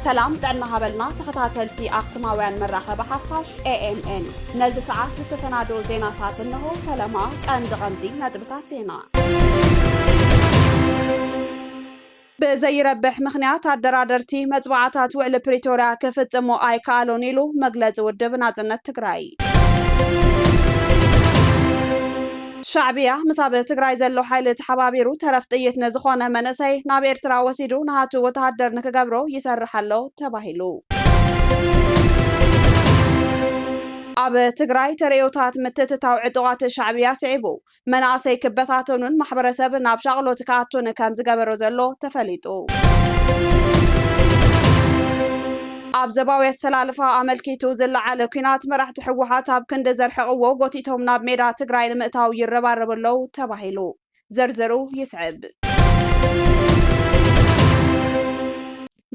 ሰላም ጥዕና ሃበልና ተኸታተልቲ ኣኽሱማውያን መራኸቢ ሓፋሽ ኤኤምኤን ነዚ ሰዓት ዝተሰናደኦ ዜናታት እንሆ ፈለማ ቀንዲ ቀንዲ ነጥብታት ዜና ብዘይረብሕ ምኽንያት ኣደራደርቲ መፅብዓታት ውዕሊ ፕሪቶርያ ክፍፅሙ ኣይከኣሉን ኢሉ መግለፂ ውድብ ናፅነት ትግራይ። ሻዕብያ ምስ ኣብ ትግራይ ዘሎ ሓይሊ ተሓባቢሩ ተረፍ ጥይት ንዝኾነ መንእሰይ ናብ ኤርትራ ወሲዱ ናሃቱ ወተሃደር ንክገብሮ ይሰርሕ ኣሎ ተባሂሉ። ኣብ ትግራይ ተርእዮታት ምትእትታው ዕጡቓት ሻዕብያ ስዒቡ መናእሰይ ክበታተኑን ማሕበረሰብ ናብ ሻቕሎት ክኣቱን ከምዝገበሮ ዘሎ ተፈሊጡ። ኣብ ዘባዊ ኣሰላልፋ ኣመልኪቱ ዝለዓለ ኲናት መራሕቲ ህወሓት ኣብ ክንዲ ዘርሕቕዎ ጎቲቶም ናብ ሜዳ ትግራይ ንምእታው ይረባረቡ ኣለው ተባሂሉ። ዝርዝሩ ይስዕብ።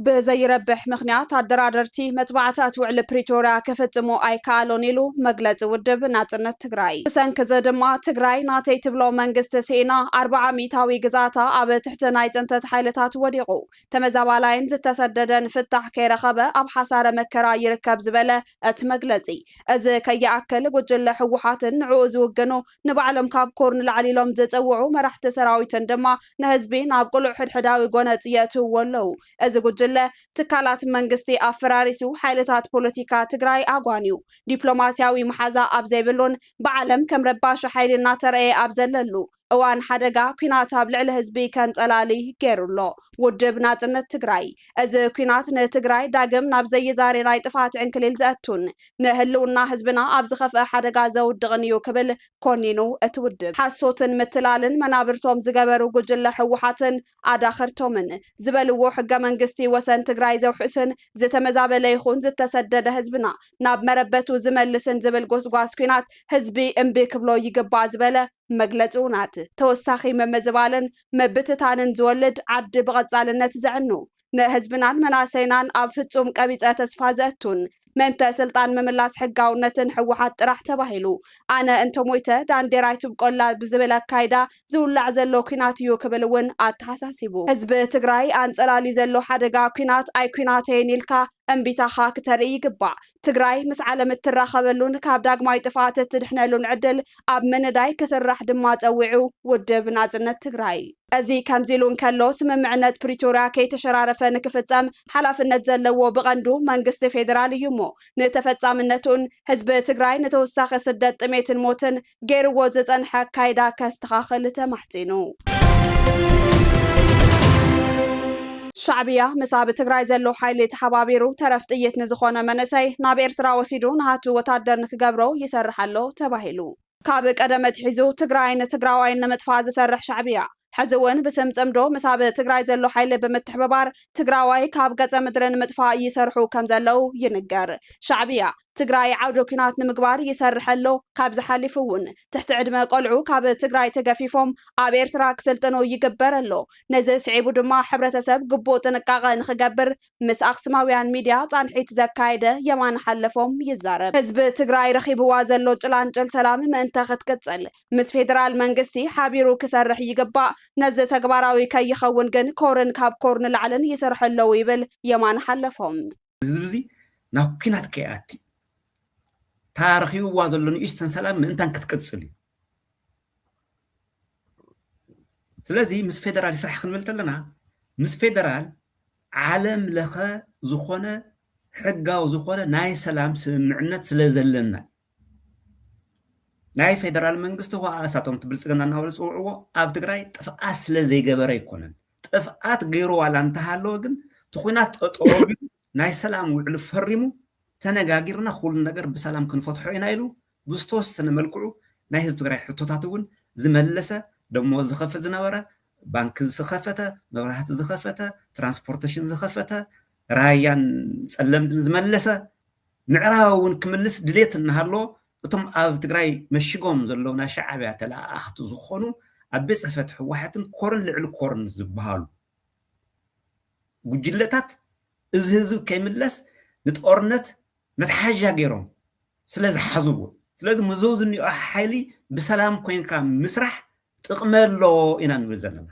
ብዘይረብሕ ምኽንያት ኣደራደርቲ መጥባዕታት ውዕሊ ፕሪቶርያ ክፍፅሙ ኣይከኣሉን ኢሉ መግለፂ ውድብ ናፅነት ትግራይ። ብሰንኪ እዚ ድማ ትግራይ ናተይ ትብሎ መንግስቲ ስኢና ኣርብዓ ሚኢታዊ ግዝኣታ ኣብ ትሕቲ ናይ ፅንተት ሓይልታት ወዲቑ ተመዛባላይን ዝተሰደደን ፍታሕ ከይረኸበ ኣብ ሓሳረ መከራ ይርከብ ዝበለ እቲ መግለፂ እዚ ከይኣክል ጉጅለ ህወሓትን ንዕኡ ዝውግኑ ንባዕሎም ካብ ኮር ንላዕሊ ኢሎም ዝጽውዑ መራሕቲ ሰራዊትን ድማ ንህዝቢ ናብ ቅሉዕ ሕድሕዳዊ ጎነጽ የእትውዎ ኣለዉ። እዚ ጉጅለ፣ ትካላት መንግስቲ ኣፈራሪሱ፣ ሓይልታት ፖለቲካ ትግራይ ኣጓንዩ፣ ዲፕሎማስያዊ መሓዛ ኣብ ዘይብሉን ብዓለም ከም ረባሺ ሓይሊ እናተረኣየ ኣብ ዘለሉ እዋን ሓደጋ ኲናት ኣብ ልዕሊ ህዝቢ ከንጸላሊ ገይሩ ኣሎ ውድብ ናጽነት ትግራይ። እዚ ኲናት ንትግራይ ዳግም ናብ ዘይዛሪ ናይ ጥፍኣት ዕንክሊል ዘእቱን ንህልውና ህዝብና ኣብ ዝኸፍኣ ሓደጋ ዘውድቕን እዩ ክብል ኮኒኑ። እቲ ውድብ ሓሶትን ምትላልን መናብርቶም ዝገበሩ ጉጅለ ህወሓትን ኣዳኸርቶምን ዝበልዎ ሕገ መንግስቲ ወሰን ትግራይ ዘውሕስን ዝተመዛበለ ይኹን ዝተሰደደ ህዝብና ናብ መረበቱ ዝመልስን ዝብል ጎስጓስ ኲናት ህዝቢ እምቢ ክብሎ ይግባእ ዝበለ መግለፂ ውናት ተወሳኺ ምምዝባልን ምብትታንን ዝወልድ ዓዲ ብቐፃልነት ዘዕኑ ንህዝብናን መናእሰይናን ኣብ ፍፁም ቀቢፀ ተስፋ ዘእቱን ምእንተ ስልጣን ምምላስ ሕጋውነትን ህወሓት ጥራሕ ተባሂሉ ኣነ እንተሞይተ ዳንዴር ኣይትብቆላ ብዝብል ኣካይዳ ዝውላዕ ዘሎ ኩናት እዩ ክብል እውን ኣተሓሳሲቡ። ህዝቢ ትግራይ ኣንፀላልዩ ዘሎ ሓደጋ ኩናት ኣይኩናተይን ኢልካ እምቢታኻ ክተርኢ ይግባእ። ትግራይ ምስ ዓለም እትራኸበሉን ካብ ዳግማይ ጥፍኣት እትድሕነሉን ዕድል ኣብ ምንዳይ ክስራሕ ድማ ፀዊዑ ውድብ ናፅነት ትግራይ። እዚ ከምዚሉ እንከሎ፣ ስምምዕነት ፕሪቶርያ ከይተሸራረፈ ንክፍጸም ሓላፍነት ዘለዎ ብቐንዱ መንግስቲ ፌደራል እዩሞ፣ ንተፈጻምነቱን ህዝቢ ትግራይ ንተወሳኺ ስደት፣ ጥሜትን ሞትን ገይርዎ ዝጸንሐ ኣካይዳ ከስተኻኽል ተማሕጺኑ። ሻዕብያ ምስ ኣብ ትግራይ ዘሎ ሓይሊ ተሓባቢሩ ተረፍ ጥይት ንዝኾነ መንእሰይ ናብ ኤርትራ ወሲዱ ናቱ ወታደር ንክገብሮ ይሰርሕ ኣሎ ተባሂሉ። ካብ ቀደም ኣትሒዙ ትግራይን ትግራዋይን ንምጥፋእ ዝሰርሕ ሻዕብያ ሕዚ እውን ብስም ፅምዶ ምስ ኣብ ትግራይ ዘሎ ሓይሊ ብምትሕብባር ትግራዋይ ካብ ገፀ ምድሪ ንምጥፋእ ይሰርሑ ከም ዘለው ይንገር። ሻዕብያ ትግራይ ዓውደ ኲናት ንምግባር ይሰርሕ ኣሎ። ካብዚ ሓሊፉ እውን ትሕቲ ዕድመ ቆልዑ ካብ ትግራይ ተገፊፎም ኣብ ኤርትራ ክስልጥኑ ይግበር ኣሎ። ነዚ ስዒቡ ድማ ሕብረተሰብ ግቡእ ጥንቃቐ ንኽገብር ምስ ኣክስማውያን ሚድያ ፃንሒት ዘካየደ የማነ ሓለፎም ይዛረብ። ህዝቢ ትግራይ ረኺብዋ ዘሎ ጭላንጭል ሰላም ምእንተ ክትቅፅል ምስ ፌደራል መንግስቲ ሓቢሩ ክሰርሕ ይግባእ። ነዚ ተግባራዊ ከይኸውን ግን ኮርን ካብ ኮር ንላዕልን ይሰርሑ ኣለው ይብል የማነ ሓለፎም። ህዝቢ እዚ ናብ ኲናት ከይኣቲ እታ ረኺብዋ ዘሎ ንኡሽተን ሰላም ምእንታን ክትቅፅል እዩ። ስለዚ ምስ ፌደራል ይስራሕ ክንብል ከለና ምስ ፌደራል ዓለም ለኸ ዝኾነ ሕጋዊ ዝኾነ ናይ ሰላም ስምምዕነት ስለ ዘለና ናይ ፌደራል መንግስቲ ኸዓ እሳቶም እቲ ብልፅግና እናበሉ ዝፅውዕዎ ኣብ ትግራይ ጥፍኣት ስለ ዘይገበረ ኣይኮነን ጥፍኣት ገይሩ ዋላ እንተሃለወ ግን እቲ ኩናት ጠጠው ኣቢሉ ናይ ሰላም ውዕሊ ፈሪሙ ተነጋጊርና ኩሉ ነገር ብሰላም ክንፈትሖ ኢና ኢሉ ብዝተወሰነ መልክዑ ናይ ህዝቢ ትግራይ ሕቶታት እውን ዝመለሰ፣ ደሞዝ ዝኸፍል ዝነበረ፣ ባንኪ ዝኸፈተ፣ መብራህቲ ዝኸፈተ፣ ትራንስፖርቴሽን ዝኸፈተ፣ ራያን ፀለምትን ዝመለሰ፣ ምዕራብ እውን ክምልስ ድሌት እናሃለዎ እቶም ኣብ ትግራይ መሽጎም ዘለዉ ናይ ሻዕብያ ተለኣኣኽቲ ዝኾኑ ኣብ ቤት ፅሕፈት ህወሓትን ኮርን ልዕሊ ኮርን ዝበሃሉ ጉጅለታት እዚ ህዝቢ ከይምለስ ንጦርነት መትሓዣ ገይሮም ስለ ዝሓዝዎ ስለዚ ምስዞም ዝኒኦ ሓይሊ ብሰላም ኮይንካ ምስራሕ ጥቕሚ ኣለዎ ኢና ንብል ዘለና።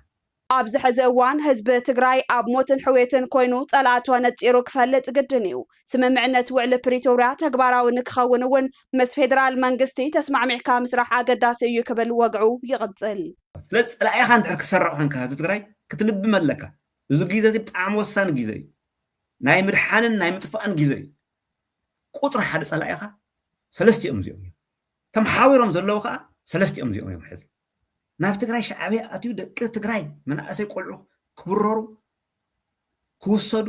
ኣብዚ ሕዚ እዋን ህዝቢ ትግራይ ኣብ ሞትን ሕውየትን ኮይኑ ፀላእቱ ኣነፂሩ ክፈልጥ ግድን እዩ። ስምምዕነት ውዕሊ ፕሪቶርያ ተግባራዊ ንክኸውን እውን ምስ ፌዴራል መንግስቲ ተስማዕሚዕካ ምስራሕ ኣገዳሲ እዩ ክብል ወግዑ ይቕፅል። ስለዚ ፀላኢኻ እንድሕር ክትሰርዕ ኮይንካ ህዝቢ ትግራይ ክትልብም ኣለካ። እዚ ግዘ እዚ ብጣዕሚ ወሳኒ ግዘ እዩ። ናይ ምድሓንን ናይ ምጥፋእን ግዜ እዩ ቁፅሪ ሓደ ፀላኢኻ ሰለስቲኦም እዚኦም እዮም ተመሓዊሮም ዘለዉ ከዓ ሰለስቲኦም እዚኦም እዮም ሕዚ ናብ ትግራይ ሻዕብያ ኣትዩ ደቂ ትግራይ መናእሰይ ቆልዑ ክብረሩ ክውሰዱ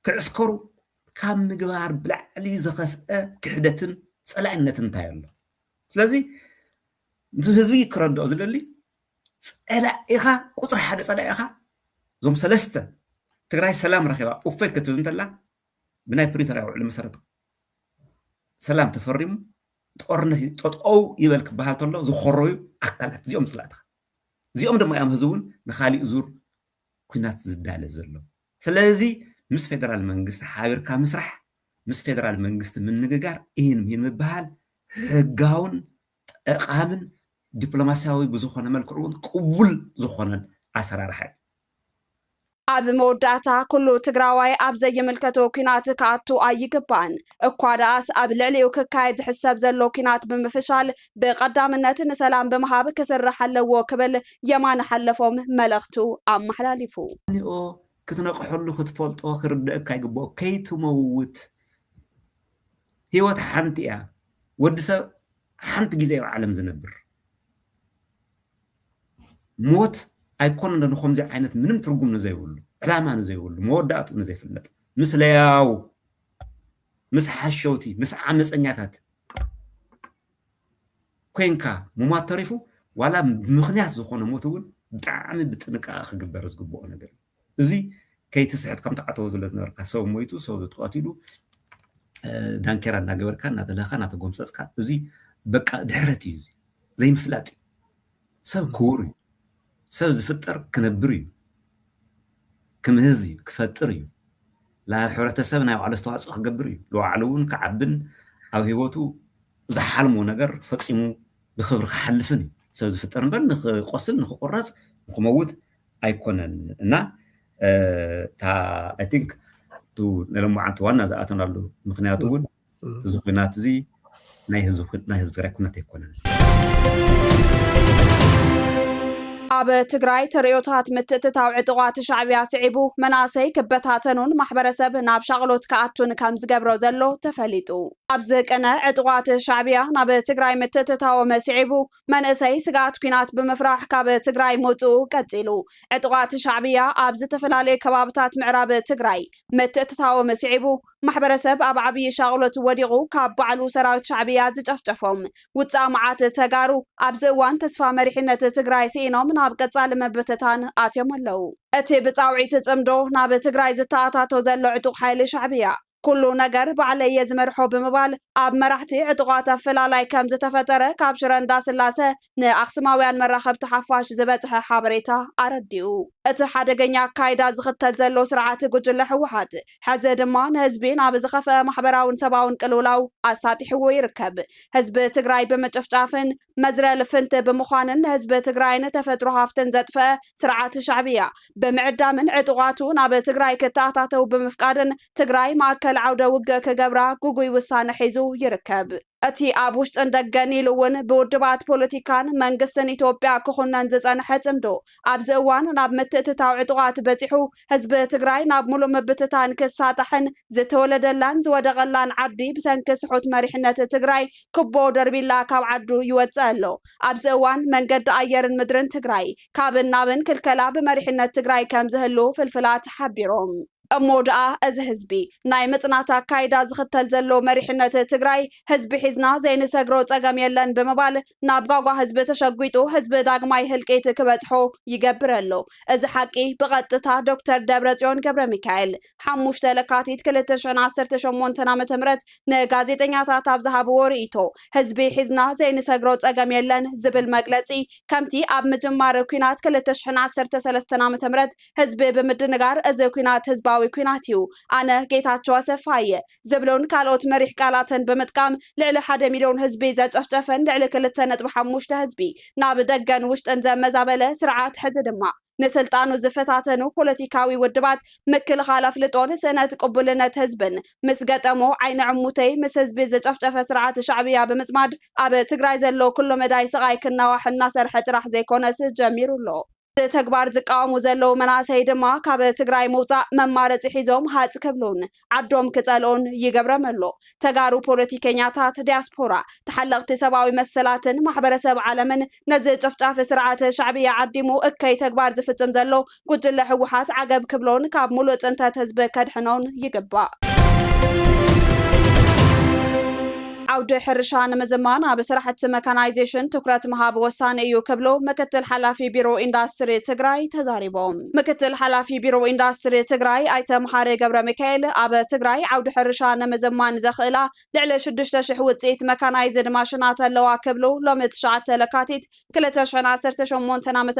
ክዕስከሩ ካብ ምግባር ብላዕሊ ዘኸፍአ ክሕደትን ፀላእነትን እንታይ ኣሎ ስለዚ ህዝቢ ክረድኦ ዝደሊ ጸላኢኻ ቁፅሪ ሓደ ጸላኢኻ እዞም ሰለስተ ትግራይ ሰላም ረኺባ ኡፈይ ክትብል እንተላ ብናይ ፕሪቶርያ ውዕሊ መሰረት ሰላም ተፈሪሙ ጦርነት ጠጠው ይበል ክበሃል ተሎ ዝኾረዩ ኣካላት እዚኦም ጽላእትኻ እዚኦም ድማ እዮም ህዝቢ እውን ንካሊእ ዙር ኩናት ዝዳለ ዘሎ ስለዚ ምስ ፌደራል መንግስቲ ሓቢርካ ምስራሕ ምስ ፌደራል መንግስቲ ምንግጋር ኢን ምሂን ምበሃል ህጋውን ጠቓምን ዲፕሎማሲያዊ ብዝኾነ መልክዑ እውን ቅቡል ዝኾነን ኣሰራርሓ እዩ። ኣብ መወዳእታ ኩሉ ትግራዋይ ኣብ ዘይምልከቶ ኲናት ክኣቱ ኣይግባእን። እኳ ደኣስ ኣብ ልዕሊኡ ክካየድ ዝሕሰብ ዘሎ ኲናት ብምፍሻል ብቐዳምነት ንሰላም ብምሃብ ክስራሕ ኣለዎ ክብል የማነ ሓለፎም መልእኽቱ ኣመሓላሊፉ። ኒኦ ክትነቅሐሉ ክትፈልጦ ክርደእካ ይግበኦ ከይትመውት ሂወት ሓንቲ እያ ወዲ ሰብ ሓንቲ ግዜ ኣብ ዓለም ዝነብር ሞት ኣይኮነን ንከምዚ ዓይነት ምንም ትርጉም ንዘይብሉ ዕላማ ንዘይብሉ መወዳእትኡ ንዘይፍለጥ ምስ ለያው ምስ ሓሸውቲ ምስ ዓመፀኛታት ኮንካ ምሟት ተሪፉ ዋላ ብምክንያት ዝኾነ ሞት እውን ብጣዕሚ ብጥንቃቐ ክግበር ዝግብኦ ነገር እዩ እዚ ከይትስሕት ከም ትዓተዎ ዝለ ዝነበርካ ሰብ ሞይቱ ሰብ ተቀቲሉ ዳንኬራ እናገበርካ እናተለካ እናተጎምፀፅካ እዚ በቃ ድሕረት እዩ እዚ ዘይምፍላጥ እዩ ሰብ ክቡር እዩ ሰብ ዝፍጠር ክነብር እዩ ክምህዝ እዩ ክፈጥር እዩ ናብ ሕብረተሰብ ናይ ባዕሉ ኣስተዋፅኦ ክገብር እዩ ንባዕሉ እውን ክዓብን ኣብ ሂወቱ ዝሓልሞ ነገር ፈፂሙ ብክብሪ ክሓልፍን እዩ ሰብ ዝፍጠር እምበር ንክቆስል ንክቁረፅ ንክመውት ኣይኮነን እና እታ ኣይ ቲንክ እቲ ንሎማዓንቲ ዋና ዝኣተናሉ ምክንያት እውን እዚ ኩናት እዚ ናይ ህዝቢ ትግራይ ኩናት ኣይኮነን ኣብ ትግራይ ተርእዮታት ምትእትታው ዕጡቓት ሻዕብያ ስዒቡ መናእሰይ ክበታተኑን ማሕበረሰብ ናብ ሻቕሎት ክኣቱን ከም ዝገብሮ ዘሎ ተፈሊጡ። ኣብዚ ቅነ ዕጡቓት ሻዕብያ ናብ ትግራይ ምትእትታዎም ስዒቡ መንእሰይ ስግኣት ኲናት ብምፍራሕ ካብ ትግራይ ምውፅኡ ቀፂሉ። ዕጡቓት ሻዕብያ ኣብ ዝተፈላለዩ ከባብታት ምዕራብ ትግራይ ምትእትታዎም ስዒቡ ማሕበረሰብ ኣብ ዓብዪ ሻቕሎት ወዲቑ ካብ ባዕሉ ሰራዊት ሻዕብያ ዝጨፍጨፎም ውፃእ መዓት ተጋሩ ኣብዚ እዋን ተስፋ መሪሕነት ትግራይ ስኢኖም ናብ ቀፃሊ ምብትታን ኣትዮም ኣለዉ። እቲ ብፃውዒት ፅምዶ ናብ ትግራይ ዝተኣታቶ ዘሎ ዕጡቕ ሓይሊ ሻዕብያ፣ ኩሉ ነገር ባዕለይ እየ ዝመርሖ ብምባል ኣብ መራሕቲ ዕጡቓት ኣፈላላይ ከም ዝተፈጠረ ካብ ሽረ እንዳስላሰ ንኣኽስማውያን መራኸብቲ ሓፋሽ ዝበጽሐ ሓበሬታ ኣረዲኡ። እቲ ሓደገኛ ኣካይዳ ዝኽተል ዘሎ ስርዓት ጉጅለ ህወሓት ሕዚ ድማ ንህዝቢ ናብ ዝኸፍኣ ማሕበራውን ሰብኣውን ቅልውላው ኣሳጢሕዎ ይርከብ። ህዝቢ ትግራይ ብምጭፍጫፍን መዝረ ልፍንቲ ብምዃንን ንህዝቢ ትግራይን ተፈጥሮ ሃፍትን ዘጥፈኣ ስርዓት ሻዕብያ ብምዕዳምን ዕጡቓቱ ናብ ትግራይ ክተኣታተው ብምፍቃድን ትግራይ ማእከል ዓውደ ውግእ ክገብራ ግጉይ ውሳነ ሒዙ ይርከብ። እቲ ኣብ ውሽጥን ደገን ኢሉ እውን ብውድባት ፖለቲካን መንግስትን ኢትዮጵያ ክኹነን ዝፀንሐ ፅምዶ ኣብዚ እዋን ናብ ምትእትታው ዕጡቓት በፂሑ ህዝቢ ትግራይ ናብ ሙሉእ ምብትታን ክሳጣሕን ዝተወለደላን ዝወደቐላን ዓዲ ብሰንኪ ስሑት መሪሕነት ትግራይ ኩቦ ደርቢላ ካብ ዓዱ ይወፅእ ኣሎ። ኣብዚ እዋን መንገዲ ኣየርን ምድርን ትግራይ ካብን ናብን ክልከላ ብመሪሕነት ትግራይ ከምዝህሉ ፍልፍላት ሓቢሮም። እሞ ድኣ እዚ ህዝቢ ናይ ምፅናት ኣካይዳ ዝኽተል ዘሎ መሪሕነት ትግራይ ህዝቢ ሒዝና ዘይንሰግሮ ፀገም የለን ብምባል ናብ ጓጓ ህዝቢ ተሸጒጡ ህዝቢ ዳግማይ ህልቂት ክበፅሖ ይገብር ኣሎ። እዚ ሓቂ ብቐጥታ ዶክተር ደብረጽዮን ገብረሚካኤል ሓሙሽተ ለካቲት ክልተ ሽሕን ዓሰርተ ሸሞንተን ዓመተ ምህረት ንጋዜጠኛታት ኣብ ዝሃብዎ ርእይቶ ህዝቢ ሒዝና ዘይንሰግሮ ጸገም የለን ዝብል መግለጺ ከምቲ ኣብ ምጅማር ኲናት ክልተ ሽሕን ዓሰርተ ሰለስተን ዓመተ ምህረት ህዝቢ ብምድንጋር እዚ ኲናት ህዝባዊ ኲናት እዩ ኣነ ጌታቸው ኣሰፋ እየ ዝብሉን ካልኦት መሪሕ ቃላትን ብምጥቃም ልዕሊ ሓደ ሚልዮን ህዝቢ ዘጨፍጨፈን ልዕሊ ክልተ ነጥቢ ሓሙሽተ ህዝቢ ናብ ደገን ውሽጥን ዘመዛበለ ስርዓት ሕዚ ድማ ንስልጣኑ ዝፈታተኑ ፖለቲካዊ ውድባት ምክልኻል ኣፍልጦን ስእነት ቅቡልነት ህዝብን ምስ ገጠሞ ዓይኒ ዕሙተይ ምስ ህዝቢ ዝጨፍጨፈ ስርዓት ሻዕብያ ብምፅማድ ኣብ ትግራይ ዘሎ ኩለመዳይ ስቓይ ክናዋሕ እናሰርሐ ጥራሕ ዘይኮነስ ጀሚሩ ኣሎ። እዚ ተግባር ዝቃወሙ ዘለዉ መናእሰይ ድማ ካብ ትግራይ ምውፃእ መማረፂ ሒዞም ሃፅ ክብሉን ዓዶም ክፀልኡን ይገብረም ኣሎ። ተጋሩ ፖለቲከኛታት፣ ዲያስፖራ፣ ተሓለቕቲ ሰብኣዊ መሰላትን ማሕበረሰብ ዓለምን ነዚ ጨፍጫፊ ስርዓት ሻዕብያ ዓዲሙ እከይ ተግባር ዝፍፅም ዘሎ ጉጅለ ህወሓት ዓገብ ክብሎን ካብ ሙሉእ ፅንተት ህዝቢ ከድሕኖን ይግባእ። ዓውዲ ሕርሻ ንምዝማን ኣብ ስራሕቲ መካናይዜሽን ትኩረት ምሃብ ወሳኒ እዩ ክብሉ ምክትል ሓላፊ ቢሮ ኢንዳስትሪ ትግራይ ተዛሪቦም። ምክትል ሓላፊ ቢሮ ኢንዳስትሪ ትግራይ ኣይተ መሓሪ ገብረሚካኤል ኣብ ትግራይ ዓውዲ ሕርሻ ንምዝማን ዘኽእላ ልዕሊ ሽዱሽተ ሽሕ ውፅኢት መካናይዝድ ማሽናት ኣለዋ ክብሉ ሎሚ ትሽዓተ ለካቲት ክልተ ሽሕን ዓሰርተ ሸሞንተን ዓ.ም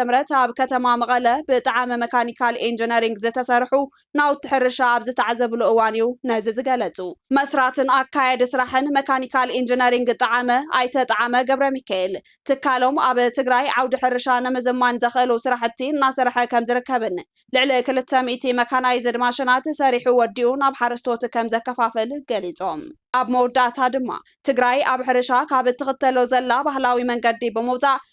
ኣብ ከተማ መቐለ ብጣዕሚ መካኒካል ኢንጂነሪንግ ዝተሰርሑ ናውቲ ሕርሻ ኣብ ዝተዓዘብሉ እዋን እዩ ነዚ ዝገለፁ። መስራትን ኣካያዲ ስራሕን መካኒካል ኢንጂነሪንግ ጠዓመ ኣይተ ጠዓመ ገብረሚካኤል፣ ትካሎም ኣብ ትግራይ ዓውዲ ሕርሻ ንምዝማን ዘኽእሉ ስራሕቲ እናሰርሐ ከምዝርከብን ልዕሊ ክልተ ሚእቲ መካናይዝድ ማሽናት ሰሪሑ ወዲኡ ናብ ሓረስቶት ከምዘከፋፍል ገሊፆም። ኣብ መወዳእታ ድማ ትግራይ ኣብ ሕርሻ ካብ እትኽተሎ ዘላ ባህላዊ መንገዲ ብምውፃእ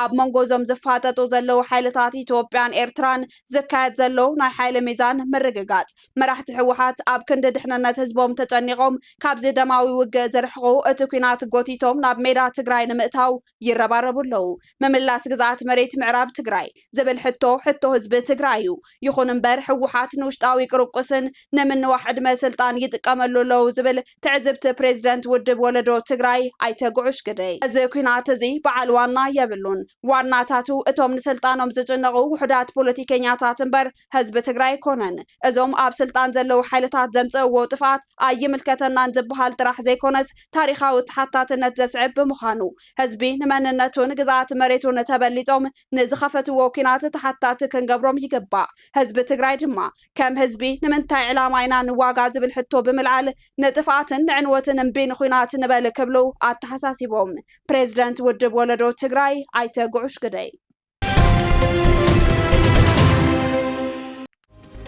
ኣብ መንጎ እዞም ዝፋጠጡ ዘለዉ ሓይልታት ኢትዮጵያን ኤርትራን ዝካየድ ዘሎ ናይ ሓይሊ ሚዛን ምርግጋጽ፣ መራሕቲ ህወሓት ኣብ ክንዲ ድሕንነት ህዝቦም ተጨኒቖም ካብዚ ደማዊ ውግእ ዝርሕቑ፣ እቲ ኲናት ጎቲቶም ናብ ሜዳ ትግራይ ንምእታው ይረባረቡ ኣለዉ። ምምላስ ግዝኣት መሬት ምዕራብ ትግራይ ዝብል ሕቶ፣ ሕቶ ህዝቢ ትግራይ እዩ። ይኹን እምበር ህወሓት ንውሽጣዊ ቁርቁስን ንምንዋሕ ዕድመ ስልጣን ይጥቀመሉ ኣለዉ ዝብል ትዕዝብቲ ፕሬዝደንት ውድብ ወለዶ ትግራይ ኣይተ ጉዑሽ ግደይ፣ እዚ ኲናት እዚ በዓል ዋና የብሉን፣ ዋናታቱ እቶም ንስልጣኖም ዝጭነቑ ውሑዳት ፖለቲከኛታት እምበር ህዝቢ ትግራይ ኣይኮነን። እዞም ኣብ ስልጣን ዘለዉ ሓይልታት ዘምፀእዎ ጥፍኣት ኣይምልከተናን ዝበሃል ጥራሕ ዘይኮነስ ታሪኻዊ ተሓታትነት ዘስዕብ ብምዃኑ ህዝቢ ንመንነቱን ግዝኣት መሬቱን ተበሊፆም ንዝኸፈትዎ ኲናት ተሓታቲ ክንገብሮም ይግባእ። ህዝቢ ትግራይ ድማ ከም ህዝቢ ንምንታይ ዕላማ ኢና ንዋጋ ዝብል ሕቶ ብምልዓል ንጥፍኣትን ንዕንወትን እምቢ ንኹናት ንበል ክብሉ ኣተሓሳሲቦም ፕሬዝደንት ውድብ ወለዶ ትግራይ ኣይተ ጉዑሽ ግደይ።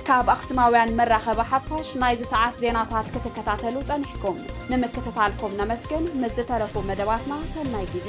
ካብ ኣኽሱማውያን መራኸቢ ሓፋሽ ናይዚ ሰዓት ዜናታት ክትከታተሉ ጸኒሕኩም ንምክትታልኩም ነመስግን። ምስ ዝተረፉ መደባትና ሰናይ ጊዜ